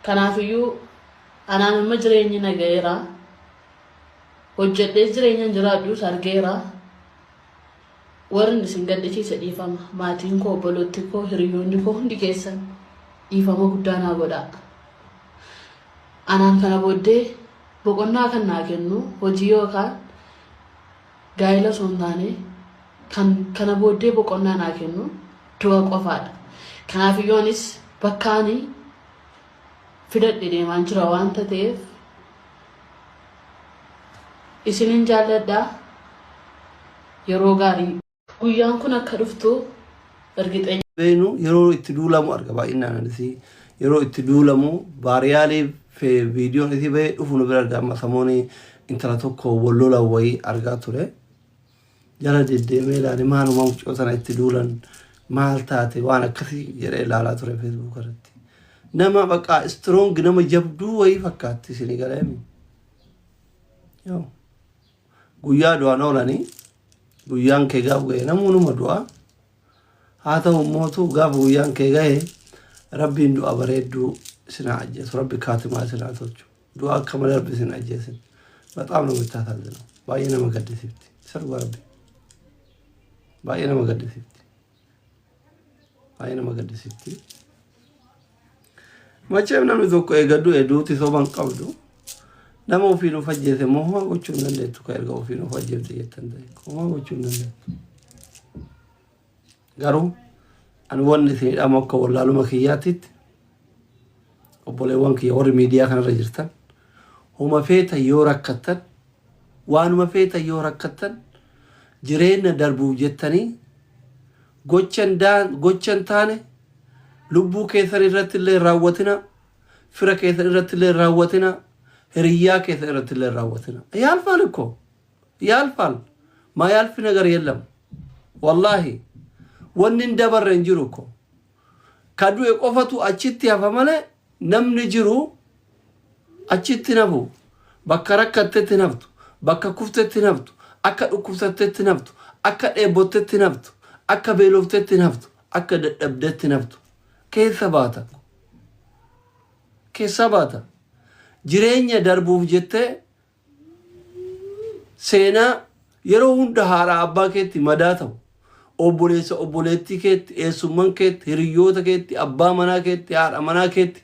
Kanaafiyyuu anaan amma jireenyi na ga'eera. Hojjedhee jireenya hin jiraadhus argeera. Warri isin gaddisiise dhiifama. Maatiin koo, obboloonni koo, hiriyoonni koo hundi keessan dhiifama guddaa naa godhaa. Anaan kana booddee boqonnaa kan naa kennu hojii yookaan gaa'ila osoo hin taane kan kana booddee boqonnaa naa kennu du'a qofaadha. Kanaaf iyyuu anis bakka ani fidadhe deemaan jira waan ta'eef isinin jaalladha yeroo gaarii. Guyyaan kun akka dhuftu ergixeenya. beenu yeroo itti duulamu arga baay'inaan isii yeroo itti duulamu baariyaalii fi viidiyoon isii bahee dhufu nu bira arga amma samoonii intala tokko wallola wayii argaa ture jala deddeemee ilaale maaluma mucoo sana itti duulan maal taate waan akkasii jedhee ilaalaa ture feesbuuk irratti nama baqaa istroongi nama jabduu wayii fakkaatti isin galee yoo Guyyaa du'an oolanii guyyaan kee gaaf ga'e namuu numa du'a. Haa ta'u immootu gaafa guyyaan kee ga'e rabbiin du'a bareedduu isinaa ajjeesu rabbi kaatimaa isinaa tolchu. Du'a akka malee rabbi isin ajjeesin. Baxaam namitti haasaasinaa. Baay'ee nama gaddisiifti. Isa dhugaa rabbi. Baay'ee nama gaddisiifti. Baay'ee nama gaddisitti. Macheem namni tokko eegaddu hedduutti soban qabdu. Nama ofii nuuf ajjeese immoo homaa gochuu hin dandeettu kan erga ofii nuuf ajjeefte jettan ta'e homaa gochuu hin dandeettu. Garuu ani wanni isin hidhamu akka wallaaluma kiyyaatitti Obboleewwan kiyya warri miidiyaa kanarra jirtan huma feetan yoo rakkattan waanuma feetan yoo rakkattan jireenna darbuuf jettanii gochan daan gochan taane lubbuu keessan irratti illee hin raawwatina fira keessan irratti illee hin raawwatina hiriyyaa keessan irratti illee hin raawwatina yaalfaal ikkoo yaalfaal maa yaalfi nagar yellam wallaahi wanni hin dabarre hin jiru ikkoo Ka du'e qofatu achitti hafa malee namni jiru achitti hin hafu. Bakka rakkattetti hin haftu. Bakka kuftetti hin haftu. Akka dhukkubsattetti hin haftu. Akka dheebottetti hin haftu. Akka beeloftetti hin haftu. Akka dadhabdetti hin haftu. Keessa baata. Keessaa baata. Jireenya darbuuf jettee Seenaa yeroo hunda haadha abbaa keetti madaa ta'u, obboleessa obboleettii keetti, eessumman keetti, hiriyyoota keetti, abbaa manaa keetti, haadha manaa keetti,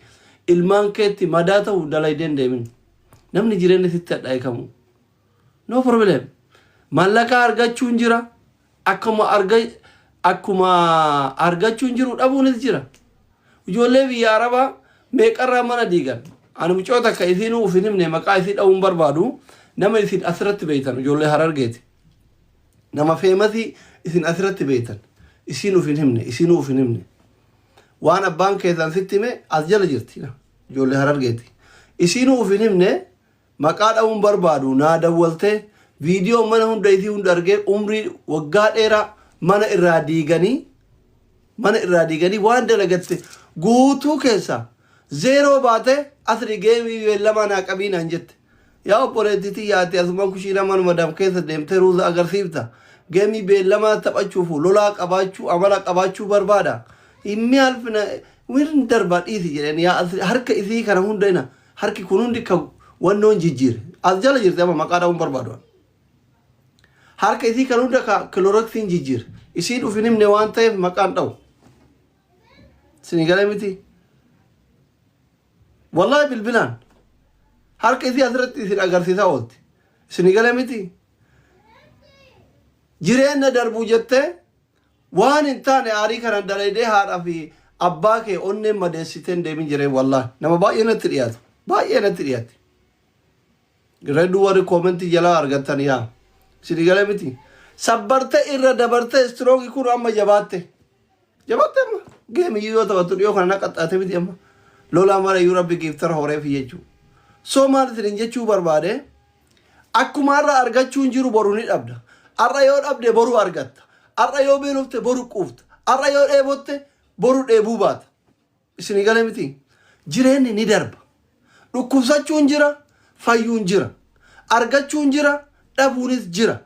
ilmaan keetti madaa ta'u dalaydee hin deemin. Namni jireenya sitti hadhaa'e kamuu. No problem. Mallaqaa argachuun jira, Akkuma arga akkuma argachuun jiru dhabuunis jira. Ijoollee biyya Arabaa meeqarraa mana diigan. Ani mucoo takka isiinuu uf hin himne maqaa isii dha'uun barbaadu nama isin asirratti beeytan ijoollee Harargeeti. Nama feemasii isin asirratti beeytan isiin uf hin himne isiinuu uf hin himne. Waan abbaan keessan sitti hime as jala jirti ijoollee Harargeeti. Isiinuu uf hin himne Maqaa dhahuu hin barbaadu naa dawwaltee video mana hunda isii hunda argee umrii waggaa dheeraa mana irraa diiganii mana irraa diiganii waan dalagatte guutuu keessaa zeeroo baatee asri geemii beellamaa naa qabii naan jette. Yaa obboleettii tiyya ati asuma kushiina mana madaam keessa deemtee ruuza agarsiifta. Geemii beellamaa taphachuuf lolaa qabaachuu amala qabaachuu barbaada. Inni alfina wirin darbaa dhiisi jedheen yaa asri harka isii kana hunda ina Harki kun hundi ka wannoon jijjiire. As jala jirti amma maqaa dha'uun barbaadu an. Harka isii kan hunda ka kiloroksiin jijjiire. Isiin uf hin himne waan ta'eef maqaan dha'u. Isinii galee miti. Wallahi bilbilaan harka isii asirratti isin agarsiisaa oolti. Isinii galee miti. Jireenya darbuu jettee Waan hin taane aarii kanan dalaydee haadha fi abbaa kee onneen madeessitee hin deemin jiree wallahi nama baay'ee natti dhiyaata baay'ee natti dhiyaatti redu warri koomentii jalaa argattan yaa isinii galee miti sabbarte irra dabarte istirooki kun amma jabaatte jabaatte amma geemiyyuu yoo taphattu dhiyoo kana naqaxxaate miti amma lolaa mara iyyuu rabbi giiftara horeefi jechuu soo maal isin hin jechuu barbaade Akkuma har'a argachuun jiru boru ni dhabda. Har'a yoo dhabde boru argatta. Har'a yoo beelofte boru quufta. Har'a yoo dheebotte boru dheebuu baata. Isinii galee miti? Jireenyi ni darba. Dhukkubsachuun jira, fayyuun jira. Argachuun jira, dhabuunis jira.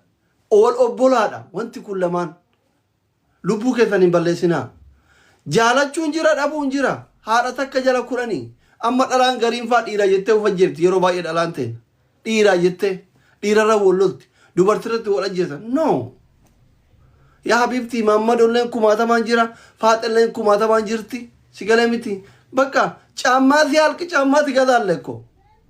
Wal obbolaadha wanti kun lamaan. Lubbuu keessan hin balleessinaa. Jaalachuun jira dhabuun jira. Haadha takka jala kudhani. Amma dhalaan gariin faa dhiira jettee of ajjeefti yeroo baay'ee dhalaan teenya. Dhiiraa jettee dhiirarra wal lolti. Dubartirratti wal ajjeesa. No. Yaa habiibtii maammadolleen kumaatamaan jira. Faaxelleen kumaatamaan jirti. Si galee miti. Bakka caammaa si halki caammaa si gazaalleekko.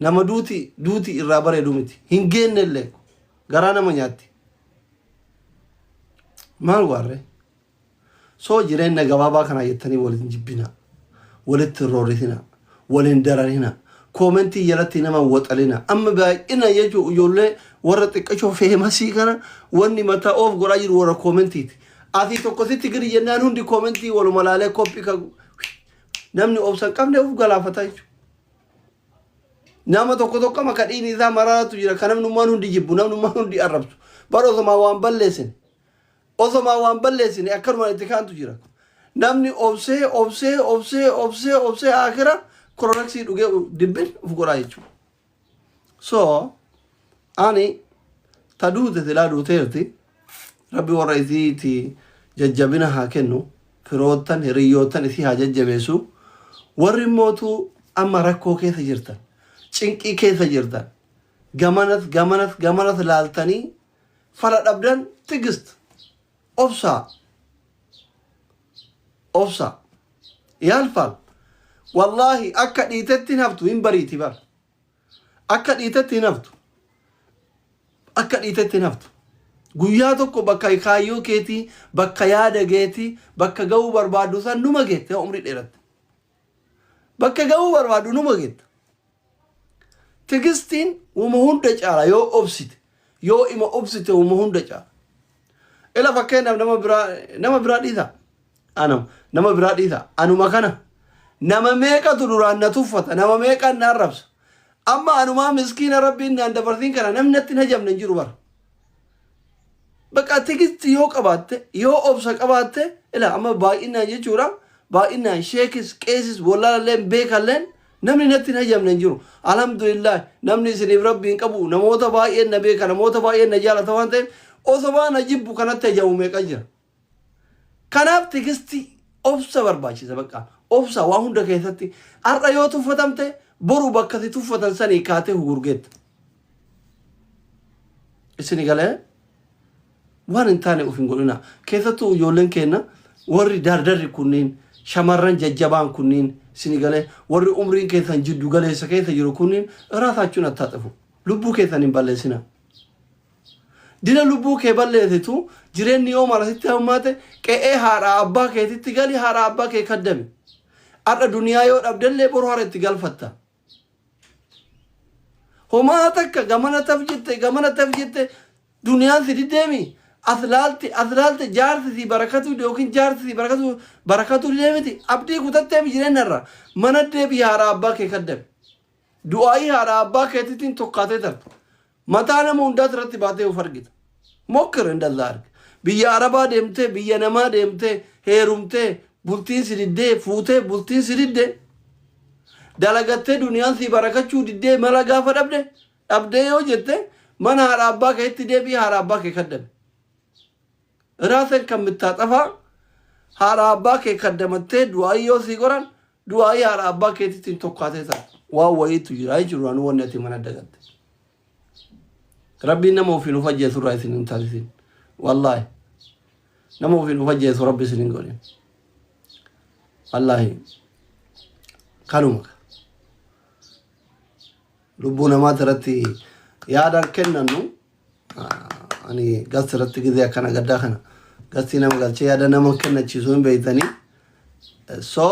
Nama duuti duuti irraa bareedu miti. Hin geenne illee. Garaa nama nyaatti. Maal waarre? Soo jireenya gabaabaa kanaa jettanii wal hin jibbinaa. Walitti hin roorrisinaa. Wal hin dararinaa. Koomentii jalatti nama hin waxalinaa. Amma baay'ina jechuun ijoollee warra xiqqashoo feemasii kana wanni mataa oof godhaa jiru warra koomentiiti. Asii tokko sitti gadi jennaan hundi koomentii waluma laalee koppii kan namni obsa hin qabne of galaafata jechuudha. Nama tokko tokko amma ka dhiigni isaa maraatu jira ka namnummaan hundi jibbu namnummaan hundi arrabsu bara osomaa waan balleessin osomaa waan balleessine akkanumaan itti kaantu jira. Namni obsee obsee obsee obsee obsee akira koronaksii dhugee dibbin of godhaa jechuudha. So ani ta duute silaa duuteerti. Rabbi warra isiiti jajjabina haa kennu, firoottan, hiriyyoottan isii haa jajjabeessu. Warri immootu amma rakkoo keessa jirtan, cinqii keessa jirtan, gamanas gamanas gamanas laaltanii fala dhabdan tigist obsaa obsaa yaalfaal wallaahi akka dhiitetti hin haftu hin bariiti bar. Akka dhiitetti hin haftu. Akka dhiitetti hin haftu. Guyyaa tokko bakka kaayyoo keetii, bakka yaada keetii, bakka ga'uu barbaaddu san numa geette yoo umrii dheeratte. Bakka ga'uu barbaaddu numa geetta. Tigistiin wama hunda caala yoo obsite, yoo ima obsite wama hunda caala. Ila fakkeenyaaf nama biraa nama biraa dhiisaa. Anam. Nama biraa dhiisa. Anuma kana. Nama meeqatu duraan na tuffata. Nama meeqaan na arrabsa. Amma anumaa miskiina rabbiin naan dabarsiin kana namni natti hin hajamne hin jiru bara. Bakka tigisti yoo qabaatte, yoo obsa qabaatte, ila amma baay'inaan jechuudha. Baay'inaan sheekis, qeesis, wallaalalleen, beekalleen namni natti hin hajamne hin jiru. Alhamdulillah namni isiniif rabbi hin qabu. Namoota baay'een na beeka, namoota baay'een na jaalata waan ta'eef osoma na jibbu kanatti hajamu meeqa jira. Kanaaf tigisti obsa barbaachisa baqqa. Obsa waa hunda keessatti har'a yoo tuffatamte boru bakka si tuffatan sanii kaatee hugurgeetta. Isin galee waan hin taane of hin godhina. Keessattuu ijoolleen keenya warri dardarri kunniin shamarran jajjabaan kunniin isin galee warri umriin keessan jiddu galeessa keessa jiru kunniin raasaachuun attaaxafu. Lubbuu keessan hin balleessina. Dira lubbuu kee balleesitu, jireenni yoo mara sitti hammaate, qe'ee haadhaa abbaa keetitti gali haadhaa abbaa kee kaddami. Har'a duniyaa yoo dhabdellee boru hara itti galfatta. Homaa takka gamana taf jette gamana taf jette duniyaan si diddeemi as laalte as laalte jaarsi si barakatuu yookiin jaarsi si barakatuu barakatuu didee miti abdii kutatteemi jireenya irraa mana deebii haadhaa abbaa kee kaddami. Du'aa'ii haadha abbaa keetiitiin tokkaatee tarta. Mataa nama hundaati irratti baatee of argita. Mokkir indallaa arga. Biyya Arabaa deemtee, biyya namaa deemtee, heerumtee, bultiin si diddee, fuutee, bultiin si didde, dalagattee duniyaan sii barakachuu diddee mala gaafa dhabde, dhabdee yoo jette, mana haadha abbaa keetti deebi'i haadha abbaa kee kaddami. Raasen kan mittaaxafaa haadha abbaa kee kaddamattee du'aayii yoo sii godhan du'aayii haadha abbaa keetittiin tokkaatee ta'a. Waan wayiitu jira jechuudha duraan wanni ati mana dagatte. Rabbiin nama ofiin of ajjeesu irraa isin hin taasisin. Wallaahi. Nama ofiin of ajjeesu rabbi isin hin godhin. Wallaahi. Kanuma. Lubbuu namaati irratti yaadaan kennannu. ani gasti irratti gizee akkana gaddaa kana gastii nama galchee yaada nama kennachiisuu hin beektanii so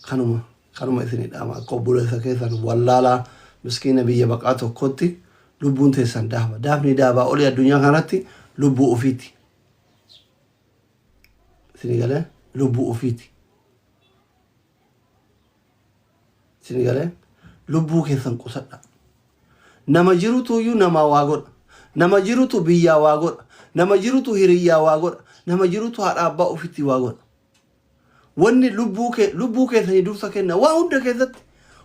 kanuma kanuma isinii dhaama akka obboleessa keessan wallaalaa miskiina biyya baqaa tokkotti lubbuun teessan daaba daafni daabaa olii addunyaa kanarratti lubbuu ofiiti isinii galee lubbuu ofiiti Isin galee lubbuu keessan qusadha. Nama jirutu iyyuu namaa waa godha. Nama jirutu biyyaa waa godha. Nama jirutu hiriyyaa waa godha. Nama jirutu haadha abbaa ofitti waa godha. Wanni lubbuu kee lubbuu keessanii dursa kenna. Waa hunda keessatti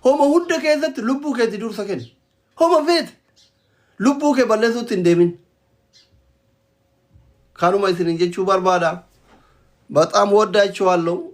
homa hunda keessatti lubbuu keetti dursa kenna. Homa feete lubbuu kee balleessuutti hin deemin. Kanuma isinin jechuu barbaada. Baxaam woddaachuu halluu.